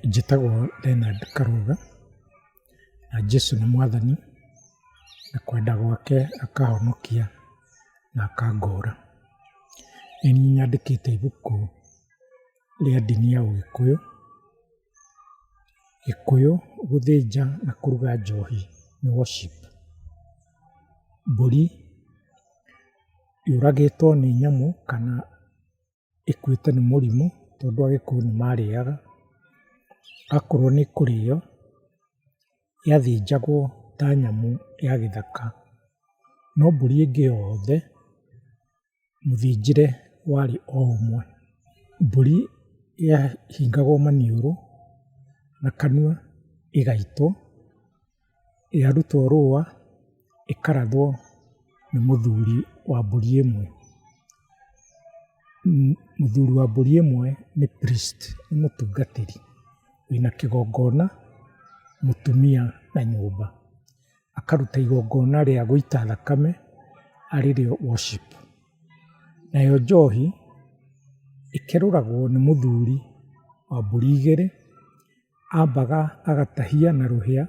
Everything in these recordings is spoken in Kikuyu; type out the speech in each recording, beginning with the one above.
Njĩtagwo Leonard Karuga, na Jesũ nĩ mwathani, na kwenda gwake akahonokia na akangũra. Nĩ niĩ nyandĩkĩte ibuku rĩa ndini ya ũgĩkũyũ, gĩkũyũ gũthĩnja na kũruga njohi nĩ worship. Mbũri yũragĩtwo nĩ nyamũ kana... ĩkuĩte nĩ mũrimũ tondũ Agĩkũyũ nĩ marĩaga. Akorwo nĩ kũrĩo, yathĩnjagwo ta nyamũ ya gĩthaka. No mbũri ĩngĩ yothe, mũthĩnjĩre warĩ o ũmwe. Mbũri yahingagwo maniũrũ na kanua ĩgaitwo. yarutwo rũa ĩkarathwo nĩ mũthuri wa mbũri ĩmwe. Mũthuri wa mbũri ĩmwe nĩ priest nĩ mũtungatĩri wĩna kĩgongona mũtumia na nyũmba. Akaruta igongona rĩa gũita thakame arĩ rĩo worship. Nayo njohi ĩkerũragwo nĩ mũthuri wa mbũri igĩrĩ. ambaga agatahia na rũhĩa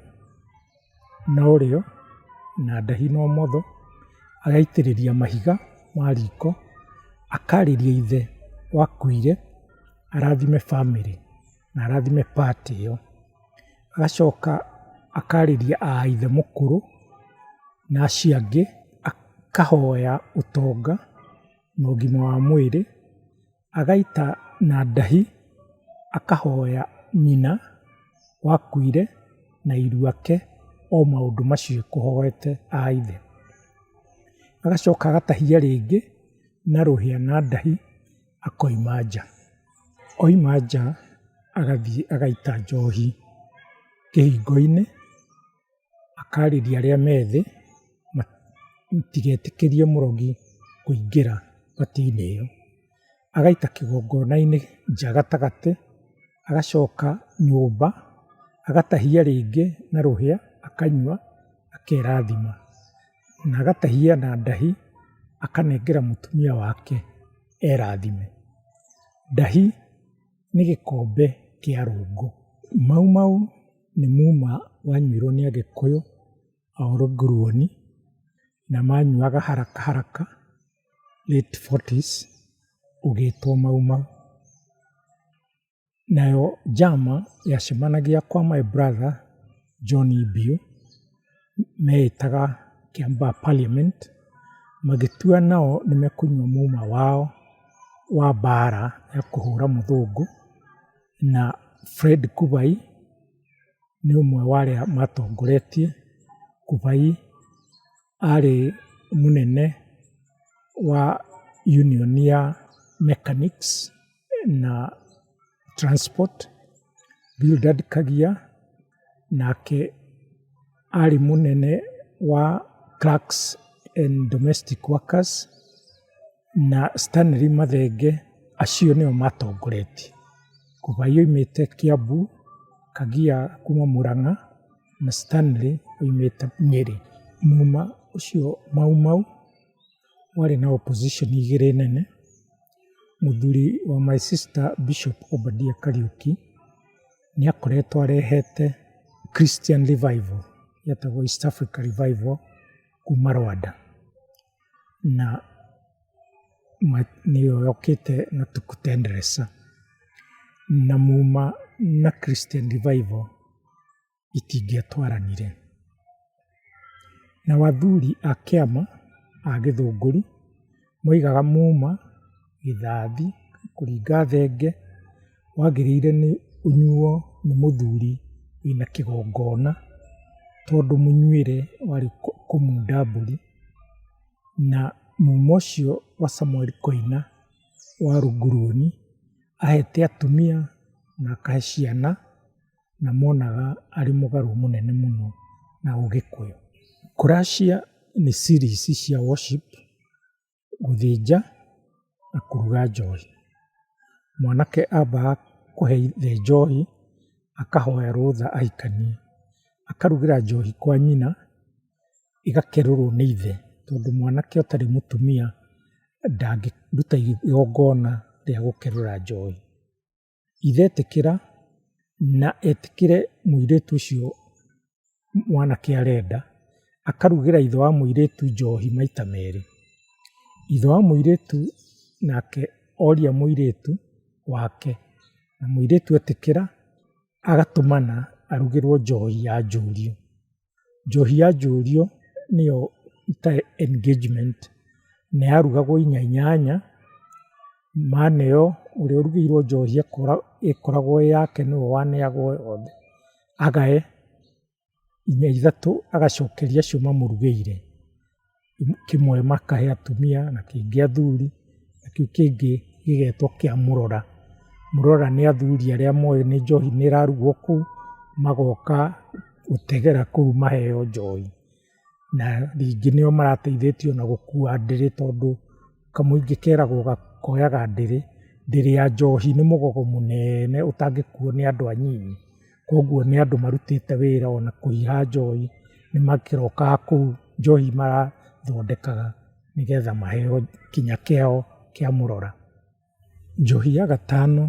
na ũrĩo na ndahi na ũmotho, agaitĩrĩria mahiga ma riko, akarĩria ithe wakuire arathime bamĩrĩ na arathime party ĩyo. Agacoka akarĩria a ithe mũkũrũ na acio angĩ, akahoya ũtonga na ũgima wa mwĩrĩ. agaita na ndahi akahoya nyina wakuire na iru ake o maũndũ macio ekũhoete a ithe. Agacoka agatahia rĩngĩ na rũhĩa na ndahi akoima nja. Oima nja agathiĩ agaita njohi kĩhingo-inĩ. akarĩria arĩa me thĩ matigetĩkĩrie mũrogi kũingĩra pati-inĩ ĩyo. Agaita kĩgongona-inĩ nja gatagatĩ, agacoka nyũmba, agatahia rĩngĩ na rũhĩa akanyua akerathima. Na agatahia na ndahi akanengera mũtumia wake erathime. Ndahi... nĩ gĩkombe kĩa rungu. Mau mau nĩ muma wanyuirwo nĩ Agĩkũyũ a ũrũnguruoni, na manyuaga haraka haraka late forties ũgĩtwo mau mau. Nayo njama yacemanagia kwa my brother John Ibiũ. mehĩtaga kĩamba parliament magĩtua nao nĩ mekũnyua muma wao wa mbara ya kũhũra mũthũngũ, na Fred Kubai nĩ ũmwe wa arĩa matongoretie. Kubai arĩ mũnene wa union ya mechanics. na transport, Bildad Kagia, nake arĩ mũnene wa clerks and domestic workers, na Stanely Mathenge, acio nĩo matongoretie. Kubai oimĩte Kiambu, Kagia kuma Mũrang'a, na Stanely oimĩte Nyeri. Muma ũcio Mau Mau. warĩ na opposition igĩrĩ nene, mũthuri wa my sister Bishop Obadia Kariuki, nĩ akoretwo arehete Christian Revival yetagwo East Africa Revival kuma Rwanda, na nĩyo yũkĩte na Tuku Tendresa, na muma na Christian Revival. itingĩatwaranire. Nao athuri a kĩama a Gĩthũngũri moigaga muma gĩthathi kũringa thenge wagĩrĩire nĩ ũnyuo nĩ mũthuri wĩna kĩgongona tondũ mũnyuĩre warĩ kũmunda mbũri. Na muma ũcio wa Samuel Koina wa Runguruoni ahete atumia na akahe ciana. na monaga arĩ mũgarũ mũnene mũno na ũgĩkũyũ. Kũracia nĩ series cia worship, gũthĩnja na kũruga njohi. Mwanake ambaga kũhe ithe njohi, akahoya rũtha ahikanie. Akarugĩra njohi kwa nyina, ĩgakerũrwo nĩ ithe, tondũ mwanake ũtarĩ mũtumia ndangĩruta igongona rĩa gũkerũra njohi. ithetĩkĩra na etĩkĩre mũirĩtu ũcio mwanake arenda, akarugĩra ithe wa mũirĩtu njohi maita merĩ. Ithe wa mũirĩtu nake oria mũirĩtu wake, na mũirĩtu etĩkĩra agatũmana arugĩrwo njohi ya njũriũ. njohi ya njũrio nĩyo itarĩ engagement na yarugagwo inya inyanya, maneyo ũrĩa ũrugĩirwo njohi ĩkoragwo ĩ yake nĩwe waneagwo yothe, agae inya ithatũ agacokeria acio mamũrugĩire. kĩmwe makahe atumia na kĩngĩ athuri, na kĩu kĩngĩ gĩgetwo kĩa mũrora. Mũrora nĩ athuri arĩa moĩ nĩ njohi nĩ ĩrarugwo kũu, magoka gũtegera kũu maheo njohi. Na ningĩ nĩo marateithĩtie ona gũkua ndĩrĩ tondũ kamũingĩ keragwo koyaga ndĩrĩ, ndĩrĩ ya njohi nĩ mũgogo mũnene ũtangĩkuo nĩ andũ anyinyi. Koguo nĩ andũ marutĩte wĩra ona kũiha njohi, nĩ makĩrokaga kũu njohi marathondekaga nĩgetha maheo kinya kĩao kĩa mũrora. Njohi ya gatano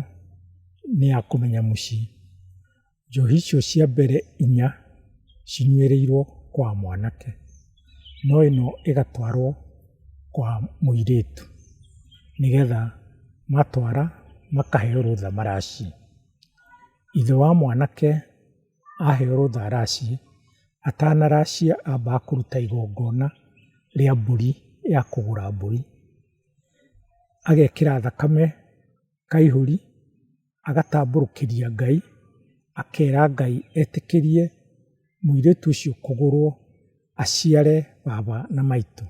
nĩ ya kũmenya mũciĩ. Njohi icio cia mbere inya cinyuĩrĩirwo kwa mwanake, no ĩno ĩgatwarwo kwa mũirĩtu nĩgetha matwara makaheo rũtha maraciĩ. Ithe wa mwanake aheo rũtha aracie, atanaracia ambaga kũruta igongona rĩa mbũri ya kũgũra mbũri. Agekĩra thakame kaihũri, agatambũrũkĩria Ngai, akera Ngai etĩkĩrie mũirĩtu ũcio kũgũrwo aciare baba na maitũ.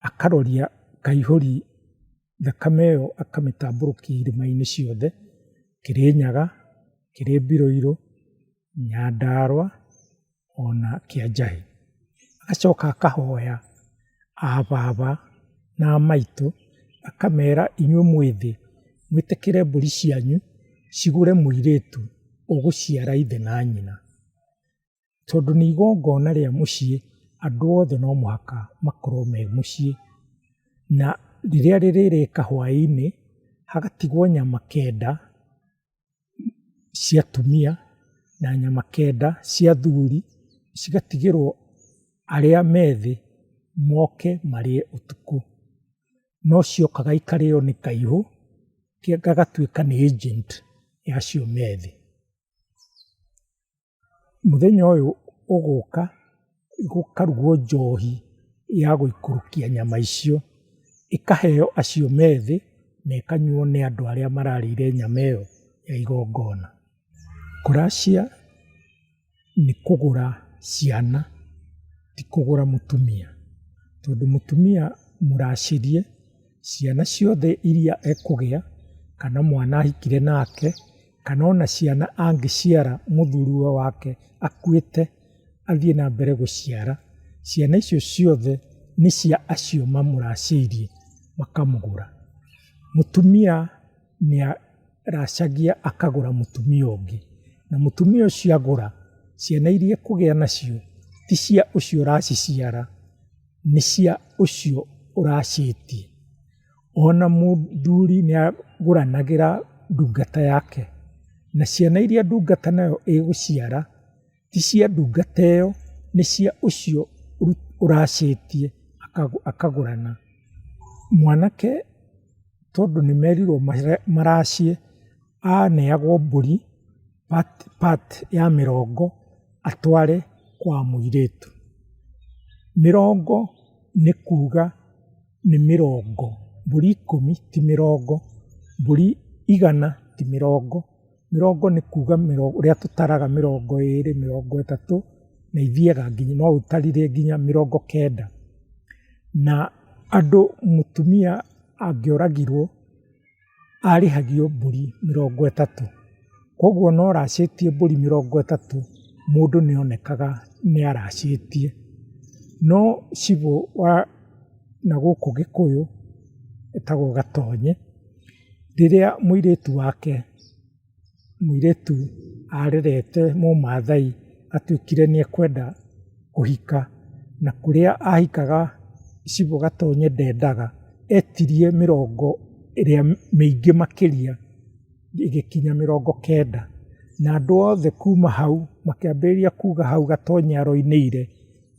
akaroria kaihũri thakame ĩyo akamĩtambũrũkia irima-inĩ ciothe, Kĩrĩnyaga, Kĩrĩmbirũirũ, Nyandarũa ona Kĩanjahĩ. Agacoka akahoya a baba na a maitũ akamera inyuĩ mwĩ thĩ mwĩtĩkĩre mbũri cianyu cigũre mũirĩtu ũgũciara ithe na nyina. tondũ nĩ igongona rĩa mũciĩ, andũ othe no mũhaka makorwo me mũciĩ. Na rĩrĩa rĩrĩrĩka hwaĩ-inĩ, hagatigwo nyama kenda cia atumia na nyama kenda cia athuri, cigatigĩrwo arĩa me thĩ moke marĩe ũtukũ. No ciokaga ikarĩo nĩ kaihũ, gagatuĩka nĩ agent ya acio me thĩ. mũthenya ũyũ ũgũka gũkarugwo njohi ya gũikũrũkia nyama icio, ĩkaheo acio me thĩ na ĩkanyuo nĩ andũ arĩa mararĩire nyama ĩyo ya igongona. Kũracia nĩ kũgũra ciana ti kũgũra mũtumia, tondũ mũtumia mũracĩrie ciana ciothe iria ekũgĩa kana mwana ahikire nake. kana ona ciana angĩciara mũthuriwe wake akuĩte athiĩ na mbere gũciara, ciana icio ciothe nĩ cia acio mamũracĩirie makamũgũra. Mũtumia nĩ aracagia akagũra mũtumia ũngĩ, na mũtumia ũcio agũra, ciana iria ekũgĩa nacio ti cia ũcio ũraciciara, nĩ cia ũcio ũracĩtie. Ona mũthuri nĩ agũranagĩra ndungata yake, na ciana iria ndungata nayo ĩgũciara, ti cia ndungata ĩyo, nĩ cia ũcio ũracĩtie akagũrana. Mwanake tondũ nĩ merirwo maracĩe, aneagwo mbũri part part ya mĩrongo atware kwa mũirĩtu. Mĩrongo nĩ kuuga. nĩ mĩrongo, mbũri ikũmi ti mĩrongo, mbũri igana ti mĩrongo, mĩrongo nĩ kuga ũrĩa tũtaraga mĩrongo ĩrĩ, mĩrongo ĩtatũ, na ithiaga nginya no ũtarire nginya mĩrongo kenda. Na andũ mũtumia angĩũragirwo. arĩhagio mbũri mĩrongo ĩtatũ. Koguo ona oracĩtie mbũri mĩrongo ĩtatũ, mũndũ nĩ onekaga nĩ aracĩtie. No cibũ wa na gũkũ Gĩkũyũ etagwo Gatonye, rĩrĩa mũirĩtu wake... Mũirĩtu arerete mũmathai atuĩkire nĩ ekwenda kũhika, na kũrĩa ahikaga icigo gatonye ndendaga, etirie mĩrongo ĩrĩa mĩingĩ makĩria ĩgĩkinya mĩrongo kenda. Na andũ othe kuma hau makĩambĩrĩria kuga hau gatonye aroinĩire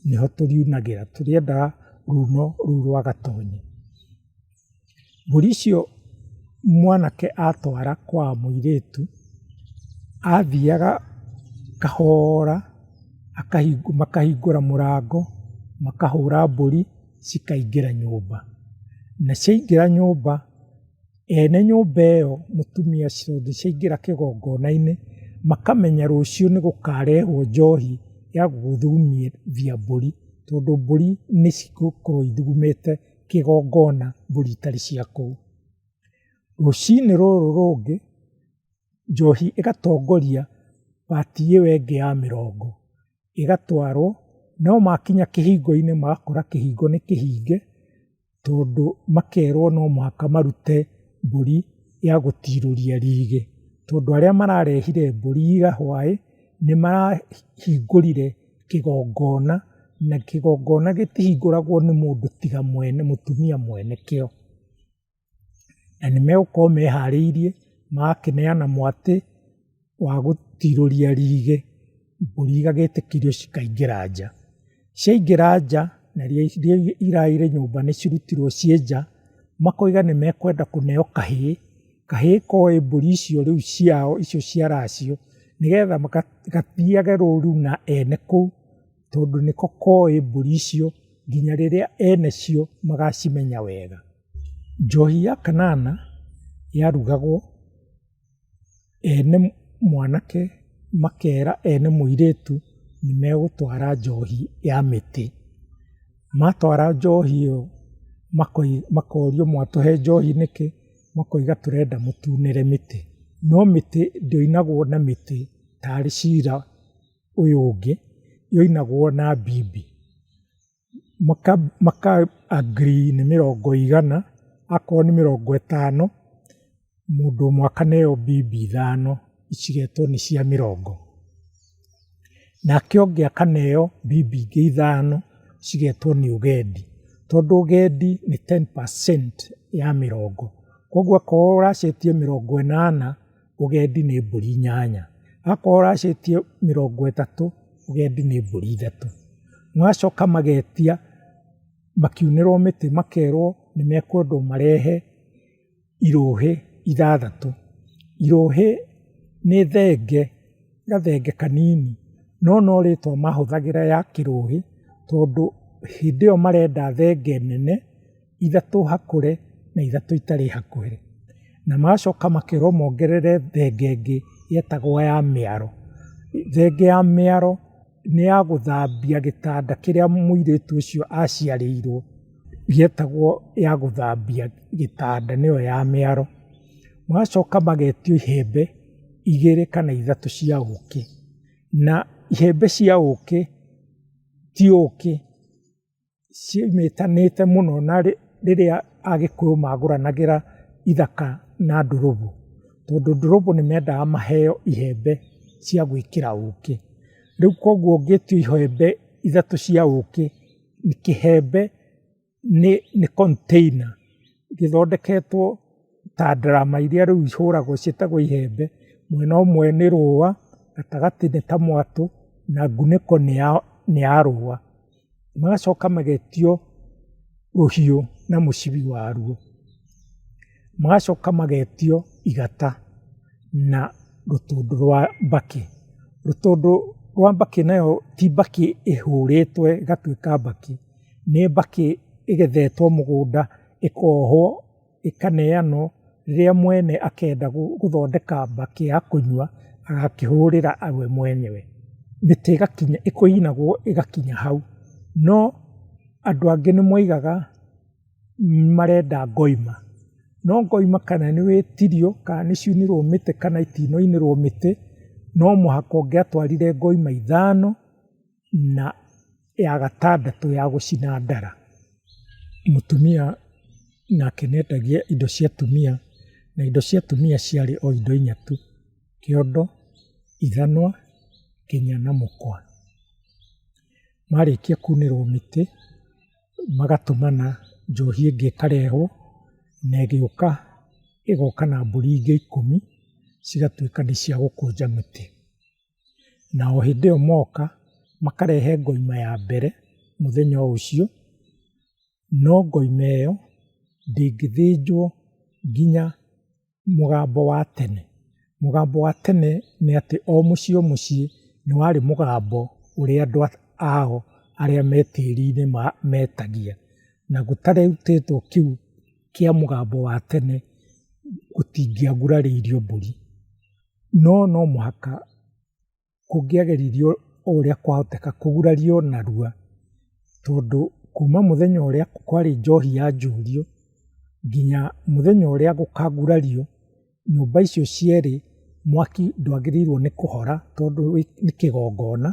nĩho tũriunagĩra, tũrĩendaga runo rũu rwa gatonye. Mbũri icio mwanake atwara kwa mũirĩtu, athiaga kahora makahingũra mũrango, makahũra mbũri cikaingĩra nyũmba. Na ciaingĩra nyũmba, ene nyũmba ĩyo mũtumia tondũ ciaingĩra kĩgongona-inĩ, makamenya rũciũ nĩ gũkarehwo njohi ya gũthumithia mbũri, tondũ mbũri nĩ cigũkorwo ithugumĩte. kĩgongona mbũri itarĩ cia kũu. Rũcinĩ rũrũ rũngĩ, njohi ĩgatongoria pati ĩyo ĩngĩ ya mĩrongo, ĩgatwarwo, no makinya kĩhingo-inĩ magakora kĩhingo nĩ kĩhinge, tondũ makerwo no mũhaka marute mbũri ya gũtirũria rigi, tondũ arĩa mararehire mbũri ira hwaĩ, nĩ marahingũrire kĩgongona, na kĩgongona gĩtihingũragwo nĩ mũndũ tiga mwene mũtumia mwene kĩo. Na nĩmegũkorwo meharĩirie, magakĩneana mwatĩ wa gũtirũria rigi, mbũri igagĩtĩkĩrio cikaingĩra nja. Ciaingĩra nja, na iria irarĩ nyũmba nĩcirutirwo ciĩ nja, makoiga nĩmekwenda kũneo kahĩĩ. kahĩĩ koe mbũri icio rĩu ciao icio ciara cio, nĩgetha gathiage rũru na ene kũu, tondũ nĩko koĩ mbũri icio nginya rĩrĩa ene cio magacimenya wega. Njohi ya kanana yarugagwo, ene mwanake makera ene mũirĩtu nĩ megũtwara njohi ya mĩtĩ. Matwara njohi ĩyo makorio mwatũhe njohi nĩkĩ? makoiga tũrenda mũtunĩre mĩtĩ, no mĩtĩ ndĩoinagwo na mĩtĩ tarĩ cira ũyũ ũngĩ, yoinagwo na mbimbi. Maka agree nĩ mĩrongo igana, akorwo nĩ mĩrongo ĩtano, mũndũ ũmwe akaneo mbimbi ithano cigetwo nĩ cia mĩrongo. nake ũngĩ akaneo mbimbi ingĩ ithano cigetwo nĩ ũgendi, tondũ ũgendi nĩ ten percent ya mĩrongo, koguo akorwo ũracenjia mĩrongo ĩnana, ũgendi nĩ mbũri inyanya, akorwo ũracenjia mĩrongo ĩtatũ, ũgendi nĩ mbũri ithatũ, magacoka magetia makiunĩrwo mĩtĩ makerwo nĩ mekwendwo marehe. irũhĩ ithathatũ. Irũhĩ nĩ thenge, gathenge kanini, no no rĩtwa mahũthagĩra ya kĩrũhĩ, tondũ hĩndĩ ĩyo marenda thenge nene, ithatũ hakũre na ithatũ itarĩ hakuhĩ. Na magacoka makerwo mongerere thenge ĩngĩ ĩtagwo ya mĩaro. Thenge ya mĩaro. nĩ ya gũthambia gĩtanda kĩrĩa mũirĩtu ũcio aciarĩirwo, yetagwo ya gũthambia gĩtanda nĩyo ya mĩaro. Magacoka magetio ihembe igĩrĩ kana ithatũ cia ũkĩ, na ihembe cia ũkĩ ti ũkĩ. ciĩnyitanĩte mũno na rĩrĩa Agĩkũyũ magũranagĩra ithaka na ndurũgũ, tondũ ndurũgũ nĩ mendaga maheo ihembe cia gwĩkĩra ũkĩ. Rĩu koguo ũngĩtua ihembe ithatũ cia ũkĩ, kĩhembe nĩ container gĩthondeketwo ta ndarama iria rĩu ihũragwo ciĩtagwo ihembe, mwena ũmwe nĩ rũa, gatagatĩ nĩ ta mwatũ na ngunĩko nĩ ya rũa. magacoka magetio rũhiũ na mũcibi waruo, magacoka magetio igata na rũtũndũ rwa mbakĩ. Rũtũndũ rwa mbakĩ nayo ti mbakĩ ĩhũrĩtwe ĩgatuĩka mbakĩ, nĩ mbakĩ ĩgethetwo mũgũnda ĩkohwo. ĩkaneanwo rĩrĩa mwene akenda gũthondeka mbakĩ ya kũnyua agakĩhũrĩra we mwenyewe, mĩtĩ ĩgakinya, kũinagwo ĩgakinya hau. No andũ angĩ nĩ moigaga marenda ngoima, no ngoima kana nĩ wĩtirio kana nĩ ciunirwo mĩtĩ kana itinaunĩrwo mĩtĩ, no mũhaka ũngĩatwarire ngoima ithano na... ya gatandatũ ya gũcina ndara, mũtumia nake nĩendagia indo cia atumia, na indo cia atumia ciarĩ o indo inya tu, kĩondo, ithanwa, nginya na mũkwa. Marĩkia kunĩrwo mĩtĩ, magatũmana njohi ĩngĩ ĩkarehwo, na ĩgĩũka ĩgoka na mbũri ingĩ ikũmi, cigatuĩka nĩ cia gũkũnja mĩtĩ. na o hĩndĩ ĩyo moka makarehe ngoima ya mbere mũthenya o ũcio, no ngoima ĩyo ndĩngĩthĩnjwo nginya mũgambo wa tene. Mũgambo wa tene nĩ atĩ o mũciĩ o mũciĩ nĩ warĩ mũgambo ũrĩa andũ ao arĩa me tĩri-inĩ metagia, na gũtarutĩtwo kĩu kĩa mũgambo wa tene gũtingĩagurarĩirio mbũri. No no mũhaka kũngĩageririo o ũrĩa kwahoteka kũgurario narua, tondũ kuma mũthenya ũrĩa kwarĩ njohi yanjurio nginya mũthenya ũrĩa gũkagurario, nyũmba icio cierĩ mwaki ndwagĩrĩirwo nĩ kũhora tondũ nĩ kĩgongona,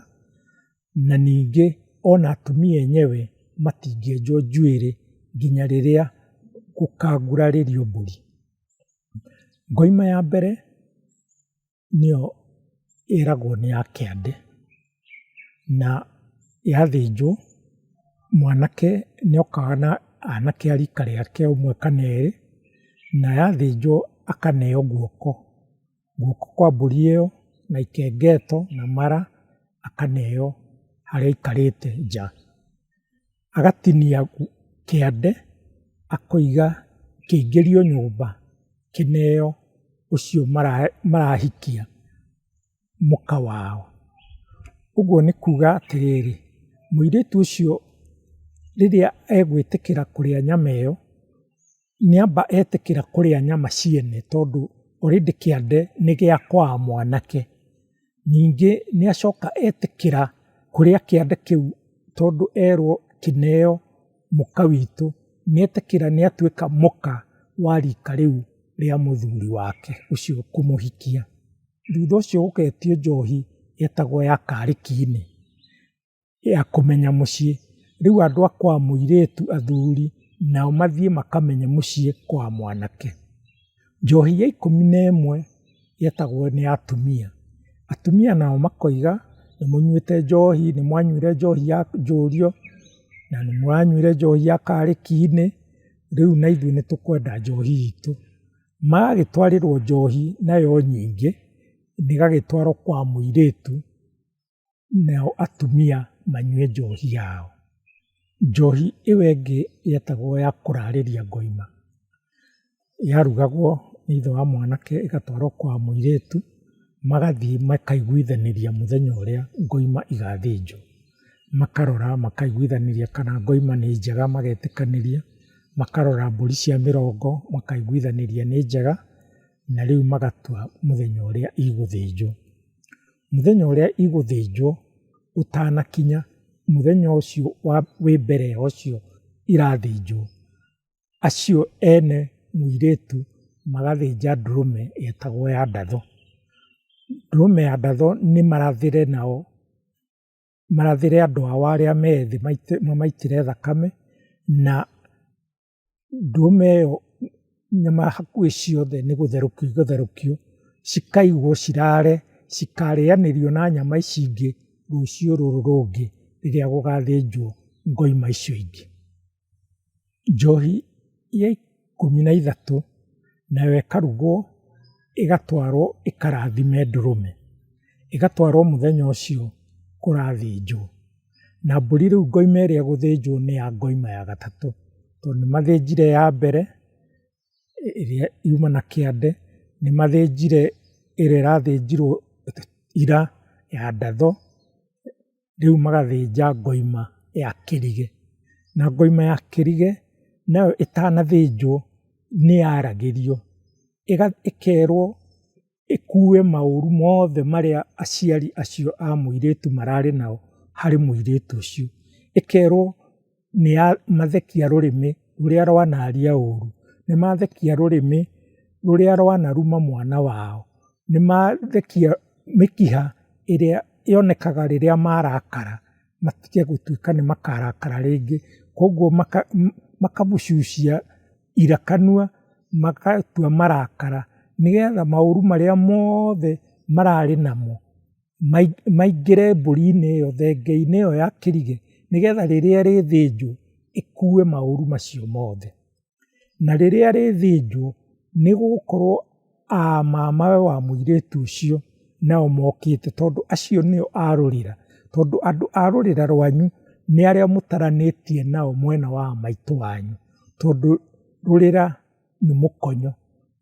na ningĩ ona atumia enyewe matingĩenjwo njuĩrĩ nginya rĩrĩa gũkagurarĩrio mbũri. Ngoima ya mbere nĩyo ĩragwo nĩ ya kĩande, na yathĩnjwo mwanake nĩ okaga na anake a rika rĩake ũmwe kana erĩ, na yathĩnjwo akaneo guoko, guoko kwa mbũri ĩyo na ikengeto na mara akaneo harĩa aikarĩte nja. agatinia kĩande akoiga kĩingĩrio nyũmba kĩneo ũcio marahikia mũka wao. Ũguo nĩ kuuga atĩrĩrĩ, mũirĩtu ũcio rĩrĩa egwĩtĩkĩra kũrĩa nyama ĩyo nĩamba etĩkĩra kũrĩa nyama ciene tondũ already kĩande nĩ gĩa kwa mwanake. Ningĩ nĩacoka etĩkĩra kũrĩa kĩande kĩu tondũ erwo kĩneo mũka witũ, nĩetĩkĩra nĩatuĩka mũka wa rika rĩu rĩa mũthuri wake ũcio kũmũhikia. Thutha ũcio gũgetio njohi yetagwo ya karĩki-inĩ. ya kũmenya mũciĩ. Rĩu andũ a kwa mũirĩtu athuri nao mathiĩ makamenye mũciĩ kwa mwanake. Njohi ya ikũmi na ĩmwe yetagwo nĩ ya atumia. Atumia nao makoiga, nĩ mũnyuĩte njohi, nĩ mwanyuire njohi ya njũriũ, na nĩ mũranyuire njohi ya karĩki-inĩ, rĩu na ithuĩ nĩ tũkwenda njohi itũ. Magagĩtwarĩrwo njohi nayo nyingĩ, ĩgagĩtwarwo kwa mũirĩtu. nao atumia manyue njohi yao. Njohi ĩyo ĩngĩ yetagwo ya kũrarĩria ngoima, yarugagwo nĩ ithe wa mwanake ĩgatwarwo kwa mũirĩtu, magathiĩ makaiguithanĩria mũthenya ũrĩa ngoima igathĩnjwo. Makarora makaiguithanĩria kana ngoima nĩ njega magetĩkanĩria, makarora mbũri cia mĩrongo makaiguithanĩria nĩ njega, na rĩu magatua mũthenya ũrĩa igũthĩnjwo. mũthenya ũrĩa igũthĩnjwo ũtanakinya, mũthenya ũcio wa wĩ mbere ya ũcio irathĩnjwo, acio ene mũirĩtu magathĩnja ndũrũme ĩtagwo ya ndatho. Ndũrũme ya ndatho nĩ marathĩre nao, marathĩre andũ ao arĩa me thĩ mamaitĩre thakame na... Ndũma ĩyo nyama hakuhĩ ciothe nĩ gũtherũkio igũtherũkio, cikaigwo cirare, cikarĩanĩrio na nyama ici ingĩ rũciũ rũrũ rũngĩ rĩrĩa gũgathĩnjwo ngoima icio ingĩ. Njohi ya ikũmi na ithatũ nayo ĩkarugwo ĩgatwarwo ĩkarathime ndũrũme, ĩgatwarwo mũthenya ũcio kũrathĩnjwo. Na mbũri rĩu ngoima ĩrĩa ĩgũthĩnjwo nĩ ya ngoima ya gatatũ, tondũ nĩ mathĩnjire ya mbere ĩrĩa yuma na kĩande, nĩ mathĩnjire ĩrĩa ĩrathĩnjirwo ira ya ndatho, rĩu magathĩnja ngoima ya kĩrigĩ. Na ngoima ya kĩrigĩ nayo ĩtanathĩnjwo nĩ yaragĩrio, ĩkerwo ĩkuue maũru mothe marĩa aciari acio a mũirĩtu mararĩ nao harĩ mũirĩtu ũcio. Ĩkerwo nĩ ya mathekia rũrĩmĩ rũrĩa rwanaria ũru, nĩ mathekia rũrĩmĩ rũrĩa rwanaruma mwana wao, nĩ mathekia mĩkiha ĩrĩa yonekaga rĩrĩa marakara. matige gũtuĩka nĩ makarakara rĩngĩ. Koguo makamũcucia ira kanua, magatua marakara, nĩgetha maũru marĩa mothe mararĩ namo, maingĩre mbũri-inĩ ĩyo, thenge-inĩ ĩyo ya kĩrigĩ, nĩgetha rĩrĩa ĩrĩthĩnjwo, ĩkue maũru macio mothe. Na rĩrĩa rĩthĩnjwo, nĩgũgũkorwo a mamawe wa mũirĩtu ũcio nao mokĩte tondũ acio nĩo a rũrĩra. Tondũ andũ a rũrĩra rwanyu nĩ arĩa mũtaranĩtie nao mwena wa a maitũ wanyu. Tondũ rũrĩra nĩ mũkonyo,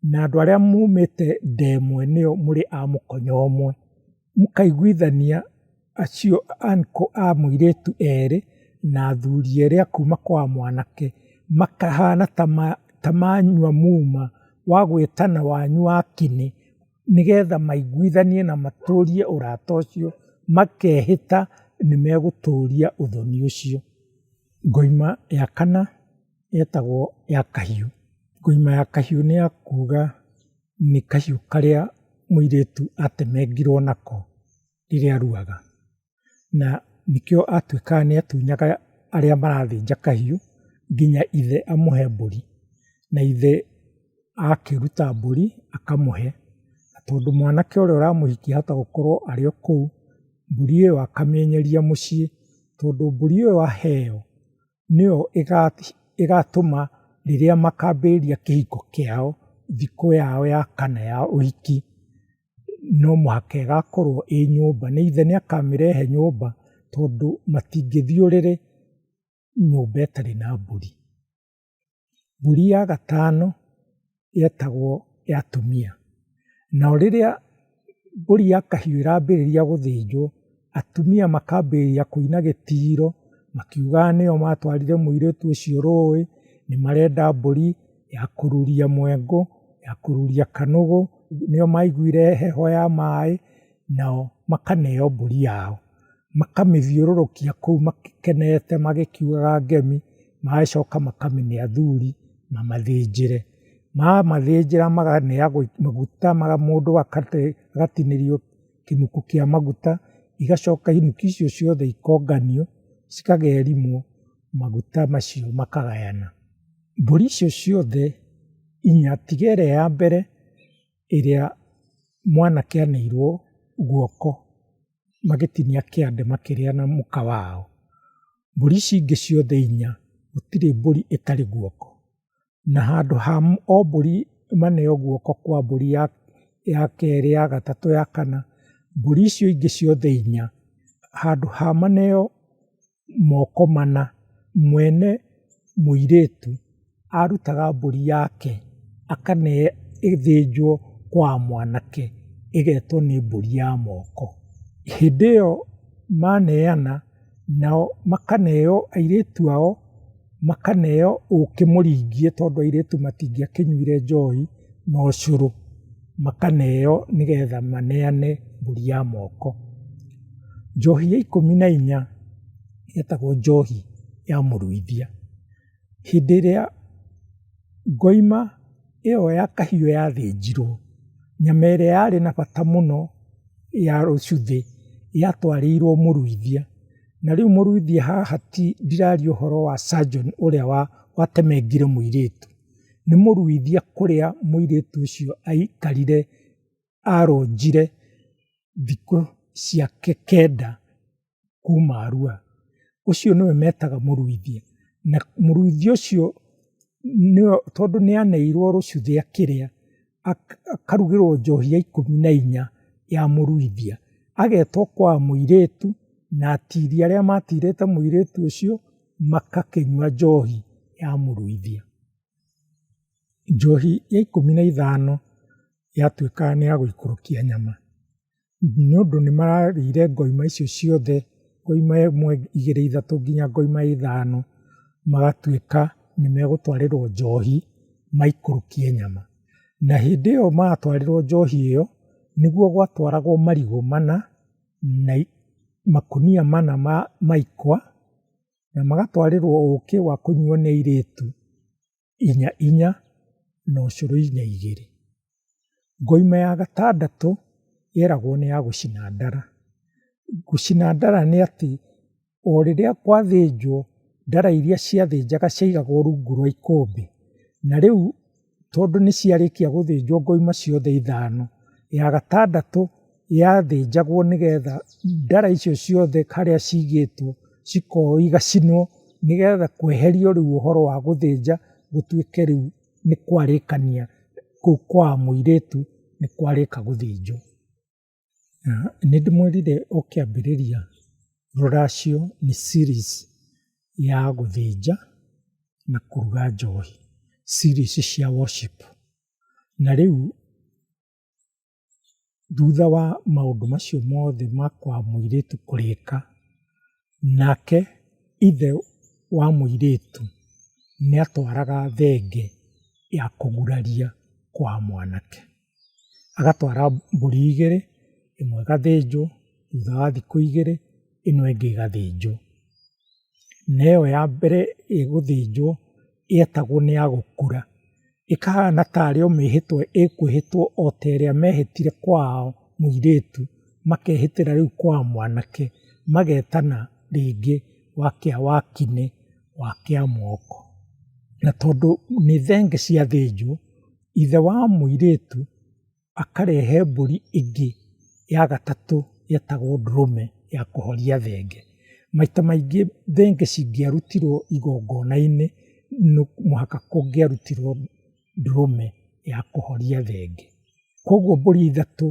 na andũ arĩa mumĩte nda ĩmwe nĩo mũrĩ a mũkonyo ũmwe. Mũkaiguithania acio a mũirĩtu erĩ na athuri erĩ a kuma kwa mwanake, makahana ta manyua muma wa gwĩtana wanyu wa kĩni, nĩgetha maiguithanie na matũrie ũrata ũcio makehĩta nĩ megũtũria ũthoni ũcio. Ngoima ya kana ĩtagwo ya kahiũ. Ngoima ya kahiũ nĩ ya kuga... nĩ kahiũ karĩa mũirĩtu atemengirwo nako rĩrĩa aruaga. Na nĩkĩo atuĩkaga nĩ atunyaga arĩa marathĩnja kahiũ nginya ithe amũhe mbũri. Na ithe akĩruta mbũri akamũhe, na tondũ mwanake ũrĩa ũramũhikia ahota gũkorwo arĩ o kũu, mbũri ĩyo akamĩenyeria mũciĩ, tondũ mbũri ĩyo aheo nĩyo ĩgatũma rĩrĩa makambĩrĩria kĩhiko kĩao, thikũ yao ya kana ya ũhiki, no mũhaka ĩgakorwo ĩ nyũmba. Nĩ either nĩ akamĩrehe nyũmba tondũ matingĩthiĩ ũrĩrĩ nyũmba ĩtarĩ na mbũri. mbũri ya gatano yetagwo ya tumia. Nayo rĩrĩa mbũri ya kahiũ ĩrambĩrĩria gũthĩnjwo, atumia makambĩrĩria kũina gĩtiro makiugaga nĩo matwarire mũirĩtu ũcio rũĩ, nĩ marenda mbũri ya kũruria mwengũ, ya kũruria kanũgũ, nĩo maiguire heho ya maĩ, nao makaneo mbũri yao. Makamĩthiũrũrũkia kũu makenete magĩkiugaga ngemi. magacoka makamĩne athuri mamathĩnjĩre. Mamathĩnjĩra makamĩneagwo maguta mũndũ agatinĩrio kĩnuku kĩa maguta, igacoka inuki icio ciothe ikonganio cikagerimwo maguta macio makagayana. Mbũri icio ciothe inya tiga ĩrĩa ya mbere ĩrĩa mwanake anĩirwo guoko. magĩtinia kĩande makĩrĩa na mũka wao. Mbũri ici ingĩ ciothe inya, gũtirĩ mbũri ĩtarĩ guoko. Na handũ ha o mbũri ĩmaneo guoko kwa mbũri ya ya kerĩ, ya gatatũ, ya kana, mbũri icio ingĩ ciothe inya, handũ ha maneo moko mana, mwene mũirĩtu arutaga mbũri yake akamĩhe ĩthĩnjwo kwa mwanake ĩgetwo nĩ mbũri ya moko. Hĩndĩ ĩyo maneana nao makaneo airĩtu ao. makaneo ũkĩ mũringie tondũ airĩtu matingĩakĩnyuire njohi na ũcũrũ, makaneo nĩgetha maneane mbũri ya moko. Njohi ya ikũmi na inya ĩtagwo njohi ya mũruithia. Hĩndĩ ĩrĩa ngoima ĩyo ya kahiũ yathĩnjirwo, nyama ĩrĩa yarĩ na bata mũno ya ũcuthĩ yatwarĩirwo mũruithia. Na rĩu mũruithie haha ti ndiraria ũhoro wa surgeon ũrĩa wa watemengire mũirĩtu. Nĩ mũruithie kũrĩa mũirĩtu ũcio aikarire aronjire thikũ ciake kenda kuma Arua. Ũcio nĩwe metaga mũruithie. Na mũruithie ũcio nĩwe tondũ nĩaneirwo rũcuthĩ akĩrĩa. akarugĩrwo njohi ya ikũmi na inya ya mũruithia, agetwo kwa mũirĩtu na atirĩ arĩa matirĩte mũirĩtu ũcio magakĩnyua njohi ya mũruithia. Njohi ya ikũmi na ithano yatuĩka nĩ ya gũikũrũkia nyama. nĩ ũndũ nĩ mararĩire ngoima icio ciothe, ngoima ĩmwe, igĩrĩ, ithatũ nginya ngoima ithano, magatuĩka nĩ megũtwarĩrwo njohi maikũrũkie nyama. Na hĩndĩ ĩyo maratwarĩrwo njohi ĩyo, nĩguo gwatwaragwo marigũ mana, na makũnia mana ma ikwa, na magatwarĩrwo ũkĩ wa kũnyuo nĩ airĩtu. inya inya na ũcũrũ inya igĩrĩ. Ngoima ya gatandatũ yeragwo nĩ ya gũcina ndara. Gũcina ndara nĩ atĩ, o rĩrĩa gwathĩnjwo, ndara iria ciathĩnjaga ciaigagwo rungu rwa ikũmbĩ, na rĩu tondũ nĩ ciarĩkia gũthĩnjwo ngoima ciothe ithano, ya gatandatũ... yathĩnjagwo nĩgetha ndara icio ciothe harĩa cigĩtwo cikoywo igacinwo nĩgetha kweherio rĩu ũhoro wa gũthĩnja gũtuĩke rĩu nĩ kwarĩkania kũu kwa mũirĩtu nĩ kwarĩka gũthĩnjwo. Nĩ ndĩmwĩrire o kĩambĩrĩria rũracio nĩ series ya gũthĩnja na kũruga njohi, series cia worship. Na rĩu Thutha wa maũndũ macio mothe ma kwa mũirĩtu kũrĩka, nake ithe wa mũirĩtu nĩ atwaraga thenge ya kũguraria kwa mwanake. Agatwara mbũri igĩrĩ, ĩmwe ĩgathĩnjwo, thutha wa thikũ igĩrĩ ĩno ĩngĩ ĩgathĩnjwo. Na ĩyo ya mbere ĩgũthĩnjwo ĩetagwo nĩ ya gũkura. ĩkahana tarĩ o mĩĩhĩtwa ĩkwĩhĩtwo o ta ĩrĩa meehĩtire kwao mũirĩtu, makeehĩtĩra rĩu kwa mwanake, magetana rĩngĩ wakĩa wa kine, wakĩa moko. Na tondũ nĩ thenge ciathĩnjwo, ithe wa mũirĩtu akarehe mbũri ĩngĩ ya gatatũ ĩtagwo ndũrũme ya kũhoria thenge. Maita maingĩ thenge cingĩarutirwo igongona-inĩ no mũhaka kũngĩarutirwo ndũrũme ya kũhoria thenge. Koguo mbũri ithatũ,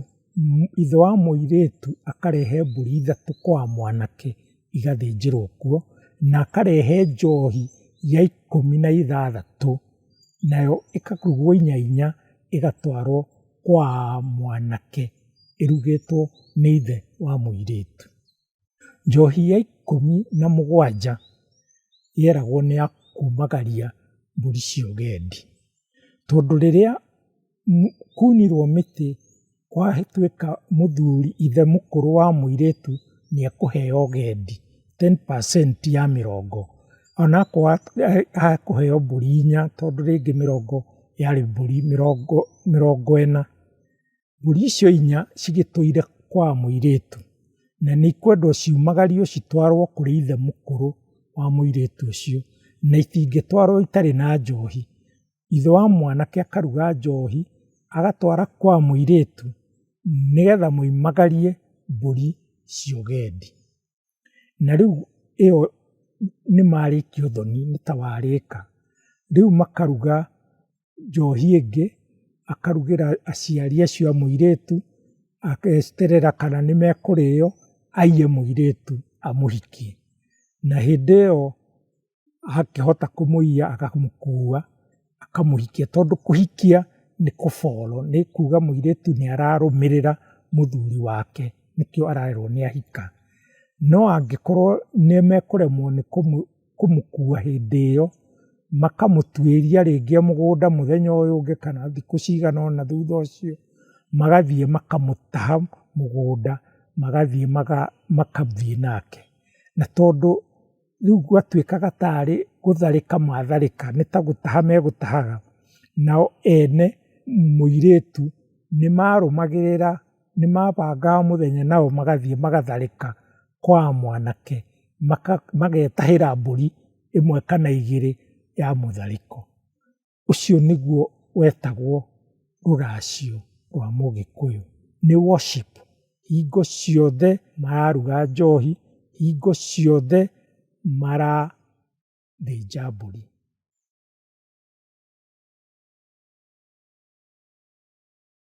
ithe wa mũirĩtu akarehe mbũri ithatũ kwa mwanake. igathĩnjĩrwo kuo, na akarehe njohi ya ikũmi na ithathatũ, nayo ĩkakurwo inya inya ĩgatwarwo kwa mwanake ĩrugĩtwo nĩ ithe wa mũirĩtu. Njohi ya ikũmi na mũgwanja yeragwo nĩ ya kumagaria mbũri cia ũgendi, tondũ rĩrĩa... Kunirwo mĩtĩ kwatuĩka mũthuri ithe mũkũrũ wa mũirĩtu nĩ ekũheo gendi, ten percent ya mĩrongo. Ona akorwo akũheo mbũri inya tondũ rĩngĩ mĩrongo yarĩ mbũri mĩrongo ĩna. Mbũri icio inya cigĩtũire kwa mũirĩtu, na nĩ ikwendwo ciumagario citwarwo kũrĩ ithe mũkũrũ wa mũirĩtu ũcio, na itingĩtwarwo itarĩ na njohi. ithe wa mwanake akaruga njohi, agatwara kwa mũirĩtu nĩgetha moimagarie mbũri cia ũgendi. Na rĩu ĩyo nĩ marĩkia ũthoni, nĩ ta warĩka. Rĩu makaruga njohi ĩngĩ, akarugĩra aciari acio a mũirĩtu, ageterera kana nĩ mekũrĩo, aiye mũirĩtu amũhikie. Na hĩndĩ ĩyo agakĩhota kũmũiya akamũkua akamũhikia tondũ kũhikia nĩ kũboro nĩ kuga mũirĩtu nĩ ararũmĩrĩra mũthuri wake nĩkĩo arerwo nĩ ahika. No angĩkorwo nĩ mekũremwo nĩ kũmũkua hĩndĩ ĩyo makamũtuĩria rĩngĩ mũgũnda mũthenya ũyũ ũngĩ kana thikũ cigana ũna thutha ũcio magathiĩ makamũtaha mũgũnda magathiĩ magathiĩ nake na tondũ rĩu gwatuĩkaga tarĩ gũtharĩka matharĩka nĩ ta gũtaha megũtahaga, nao ene mũirĩtu nĩ marũmagĩrĩra, nĩ mabangaga mũthenya nao magathiĩ magatharĩka kwa mwanake, magetahĩra mbũri ĩmwe kana igĩrĩ ya mũtharĩko. Ũcio nĩguo wetagwo rũracio rwa mũgĩkũyũ, nĩ worship. Hingo ciothe mararuga njohi, hingo ciothe marathĩnja mbũri.